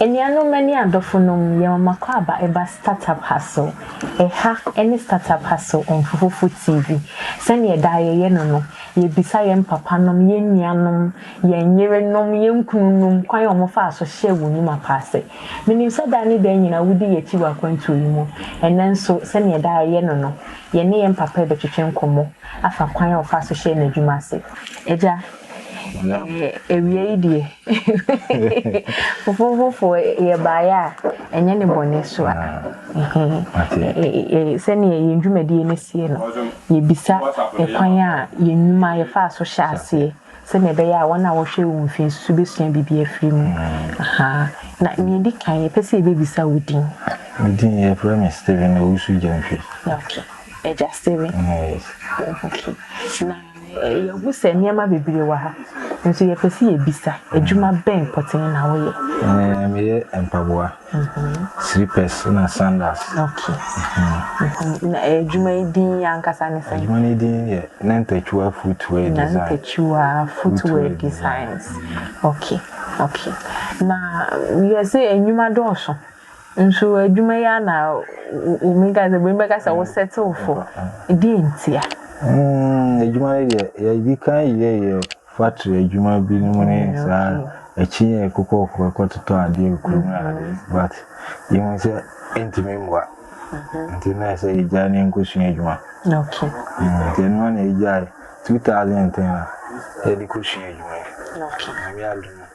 Anuanom ne adɔfonom, yɛma m'akwaaba ɛba startup ha so. Ɛha ne startup ha so Mfufufo TV. Sɛnea daa yɛyɛ no no, yɛbisa yɛn papanom, yɛn nuanom, yɛn yerenom, yɛn kununom kwan a wɔfaa so hyɛɛ wɔn nnwuma pa ase. Menim sɛ daa ne daa nyinaa wodi yɛn akyi wɔ akwantuo yi mu. Ɛnnɛ nso, sɛnea daa yɛyɛ no no, yɛne yɛn papa rebɛtwetwe nkɔmmɔ afa kwan a ɔfaa so hyɛɛ n'adwuma ase. Agya, Na awia yi deɛ fufufufuo yɛ baayɛ a ɛnyɛ ne bɔne so a sɛdeɛ yɛn dwumadie no sie no yɛbisa ɛkwan a yɛn nnwuma yɛfaa so hyɛ aseɛ sɛdeɛ ɛbɛyɛ a wɔn a wɔhwɛ wo mfie nso bɛsua biribi afiri mu na deɛ ɛdi kan yɛpɛ sɛ yɛbɛbisa wo din me din yɛfrɛ me Stephen Owusu Gyamfi okay ɛgya Stephen yes okay na Yɛahu sɛ nneɛma bebree wɔ ha, nso yɛpɛ sɛ yɛbisa, Adwuma bɛn pɔtee na woyɛ? Me, meyɛ mpaboa, slippers na sandals. Okay. Na adwuma yi din ankasa ne sɛn? Adwuma no yi din yɛ Nantachiwa Footwear Design. Nantachiwa Footwear Designs. Okay, okay. Na yɛse nnwuma dɔɔso, Nso adwuma yi ara na wumi ka sɛ bɛmi bɛka sɛ wo settle fo deɛ ntia. Mm adwuma no deɛ yɛdi kan yɛ yɛ factory adwuma bi no mu ne mm, saa akyi yɛ kokɔ kokɔ totɔ adeɛ kurom na adeɛ mm-hmm. but yɛhu sɛ ɛntumi mmoa mm-hmm. nti na ɛsɛ yɛgyae ne nkɔsua adwuma mm, nti ɛno na yɛgyae 2010 a yɛde kɔsua adwuma yi. Okay.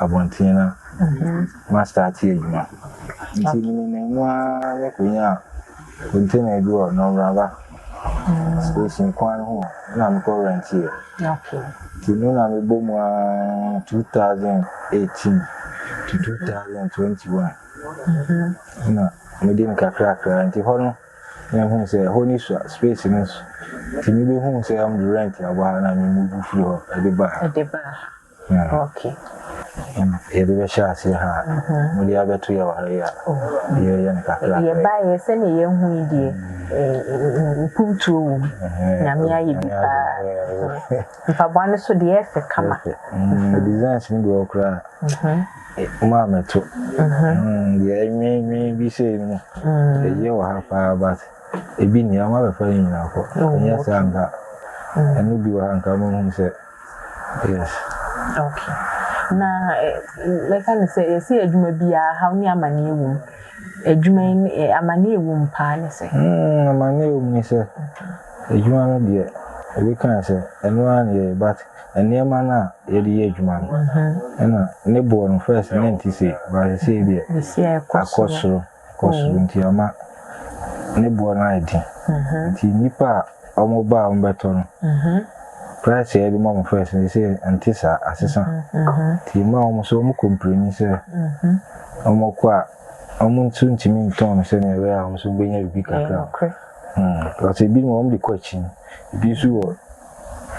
abɔnten na mastarte adwuma. Nti menenam mu ara me konyaa container bi wɔ Nɔmraba station kwan no ho hɔ na me kɔ rɛnteɛ. Nti me na me bɔ mu ara 2018 to 2021 na me de me kakrakra nti hɔ no na huu sɛ hɔ ni sua space no so nti me bɛ huu sɛ ɔmo de rɛnt abɔ ha na me muvu firi hɔ de ba ha. Okay. Yɛde bɛhyɛ aseɛ ha a, mode abɛto yɛ wɔ ha yi a, yɛyɛ no kakra. Yɛbaeɛ sɛdeɛ yɛahu yi deɛ, mpuntuo wɔ mu. Nyame ayɛ bi paa. Mpaboa no nso deɛ ɛyɛ fɛ kama. Designs no bi wɔ hɔ koraa a, momaa mɛto. Deɛ ɛnweenwee bi sei no mu, ɛyɛ wɔ ha paa but ebi nni ha, moabɛfa ne nyinaa kɔ. Ɛnyɛ saa a nka ɛno bi wɔ ha a nka mohu sɛ. Yes. Okay. Na mɛka no sɛ yɛsi adwuma biara haw ne amaneɛ wɔ mu. Adwuma yi ne amaneɛ wɔ mu paa ne sɛ. Mm, amaneɛ wɔ mu ne sɛ adwuma no deɛ ebi kan sɛ ɛno ara ne yɛyɛ but nneɛma no a yɛde yɛ adwuma no ɛna ne boɔ no first na ɛnte sei but sɛ deɛ akɔ soro. wɔ soro nti ama ne boɔ no ayɛ den nti nnipa a wɔn ba a wɔn bɛtɔ no price a yɛde ma wɔn first no sɛ nte saa asesa nti yɛma wɔn nso wɔn kɔmpleni sɛ wɔn kɔ a wɔn nso ntumi ntɔn no sɛnea ɛbɛyɛ a wɔn nso bɛnya biribi kakra because ebi mu wɔn de kɔ akyi ebi nso wɔ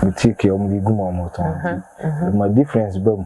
boutique a wɔn de gu mu a wɔn tɔn ɛma difference ba mu.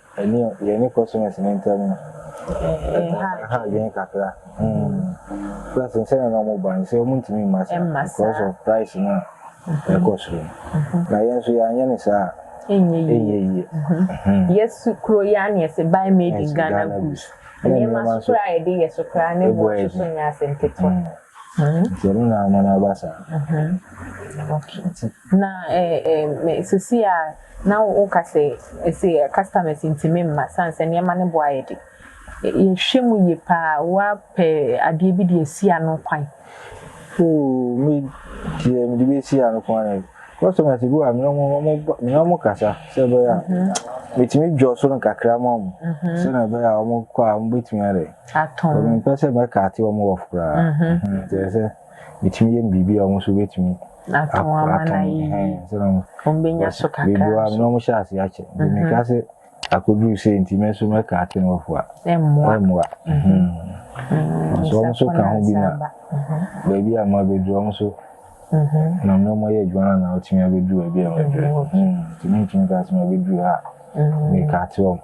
Ɛne yɛne customers no ntam no, ɛha adwene kakra plus nsɛnea na wɔba no sɛ wɔntumi mma saa because of price no a ɛkɔ soro no. Na yɛn nso yɛanyɛ no saa a, ɛnyɛ yie. Yɛsu kuro yi ara na yɛse buy made in Ghana goods. Nneɛma nso koraa a yɛde yɛ so koraa ne boɔ nso so nyɛ asɛm ketewa. Nti ɛno na ama no aba saa. Na eh sesie a na wo ka sɛ ese customers ntumi mma sane sɛ nneɛma no bo ayɛ de. Yɛ hwɛ mu yie paa wa pɛ adeɛ bi de asi ano kwan. Ooh me deɛ me de bi asi ano kwan eh. Customers bi wɔ ha me ne ɔmo ɔmo ba me ne ɔmo kasa sɛ ɛbɛyɛ a me tumi dwɔ so no kakra ma ɔmo sɛ na ɛbɛyɛ a ɔmo kɔ a ɔmo bɛtumi adɛn. Atɔn. Cause me mpɛ sɛ mɛ kate ɔmo off koraa. Nti ɛsɛ. metumi yɛ no biribi a wɔn nso bɛtumi ato wɔn anan ayi wɔn bɛnya so kakra nso biribi na wɔn hyɛ ase akyɛ nti mhm. meka sɛ akɔduru sɛ nti mɛ nso mɛka ate no wɔfo a ɛmmoa ɛmmoa mhm. mhm. nso wɔn nso ka ho bi na baabi a mo abɛduru wɔn nso na mo mo yɛ adwuma na wɔtumi abɛduru baabi a wɔn aduru nti mentumi ka sɛ mo abɛduru ha meka ate wɔn.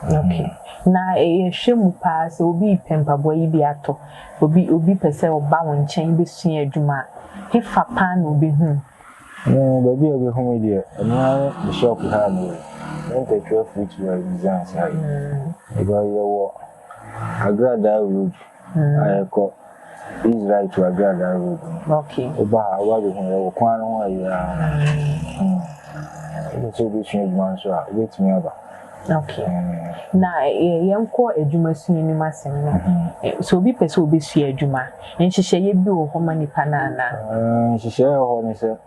Okay, na yɛhwɛ mu paa sɛ obi repɛ mpaboa yi bi atɔ, obi obi pɛ sɛ ɔba wo nkyɛn bɛsua adwuma a, hefa paa na ɔbɛhu wo? Me, baabi a ɔbɛhu me deɛ, ɛno ara ne me shop ha a meyɛ, Mintechwear Footwear and Designs ha yi. Yɛwɔ Agradaa Road. Na yɛkɔ Israel to Agradaa road no. Okay. Woba ha woba bɛ hu yɛwɔ kwan no ho ayɛ ara. Wopɛ sɛ wobɛsua adwuma nso a, wobɛtumi aba. Okay. Na yɛnkɔ adwuma sua no mu asɛm no. Sɛ obi pɛ sɛ obɛsua adwuma, nhyehyɛeɛ bi wɔ hɔ ma nipa no anaa? Nhyehyɛeɛ wɔ hɔ ne sɛ,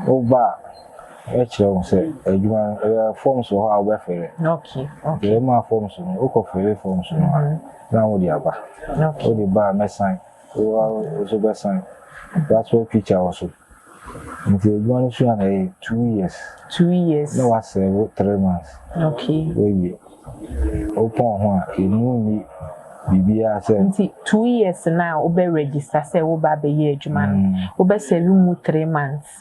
woba a, yɛkyerɛ wo sɛ adwuma no, forms wɔ hɔ a wobɛfele. Okay. Okay. Yɛma forms no, wokɔ fele forms no a, Na wode aba. Wode ba a mɛsan. Wo ara wo nso bɛsan. Passport picture wɔ so. Nti adwuma no sua na ɛyɛ two years. Two years. Na wa serve three months. Okay. Wawie. Wo pɔn ho a emu nni biribiara sɛ. Nti two years no a wobɛ register sɛ wo ba abɛyɛ adwuma no, wobɛ serve mu three months.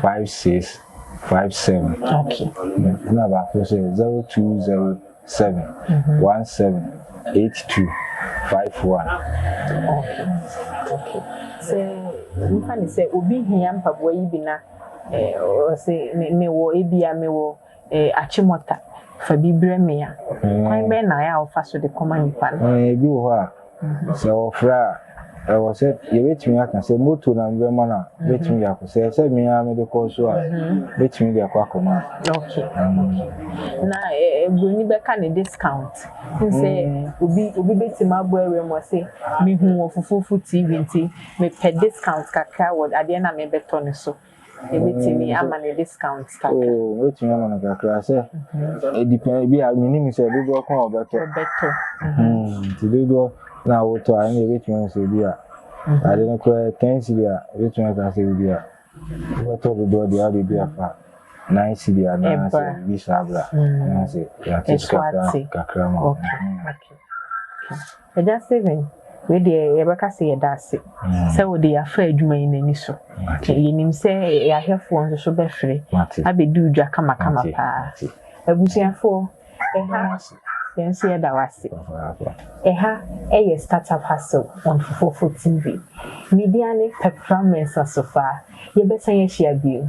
Five six five seven ɛna baako sɛ zero two zero seven one seven eight two five one. Sɛ nfa ne sɛ obi hia mpaboa yi bi na ɔsɛ mewɔ ebia mewɔ. Eh, Achimota, fa bi brɛ me a, kwan bɛn na ayɛ a wofa so de kɔma nnipa no? Eh, ebi wɔ hɔ a, sɛ wɔfrɛ a, ɛwɔ sɛ yɛbɛtumi aka sɛ moto na mebɛma no a, mɛtumi de akɔ. Sɛ ɛyɛ sɛ me ara mede kɔ nso a, mɛtumi de akɔ akɔma. Ok, ok. Na eh, eh, buroni bɛka ne discount. N sɛ obi obi bɛtumi abɔ awura mu ɔse, mehu wɔ Fufufu TV nti mepɛ discount kakra wɔ adeɛ no a mebɛtɔ no so. Ebetumi ama no discount kakra. Oo, ebetumi ama no kakra sɛ edipɛn ebi a menim sɛ dodoɔ ko a ɔbɛtɔ. Ɔbɛtɔ. Nti dodoɔ na wotɔ a ɛna ebetumi ama sɛ ebi a ade no koraa ten cedi a ebetumi aka sɛ ebi a wobɛtɔ dodoɔ deɛ ade bi afa nine cedi anaasɛ ebi saa bra anaasɛ yɛate so kakra kakra ma. Okay. Okay. Agya Stephen, wei deɛ yɛbɛka sɛ yɛda ase sɛ wode yɛafa adwuma yi n'ani so. Yɛnim sɛ yɛn ahwɛfoɔ nso so bɛfiri abɛdi wo dwa kamakama paa. Abusuafoɔ, ɛha yɛn nso yɛda wo ase. Ɛha yɛ Startup Hustle on Fufuofo TV. Media ne Pɛpra Mensah Sofaa. Yɛbɛsan ahyia bio.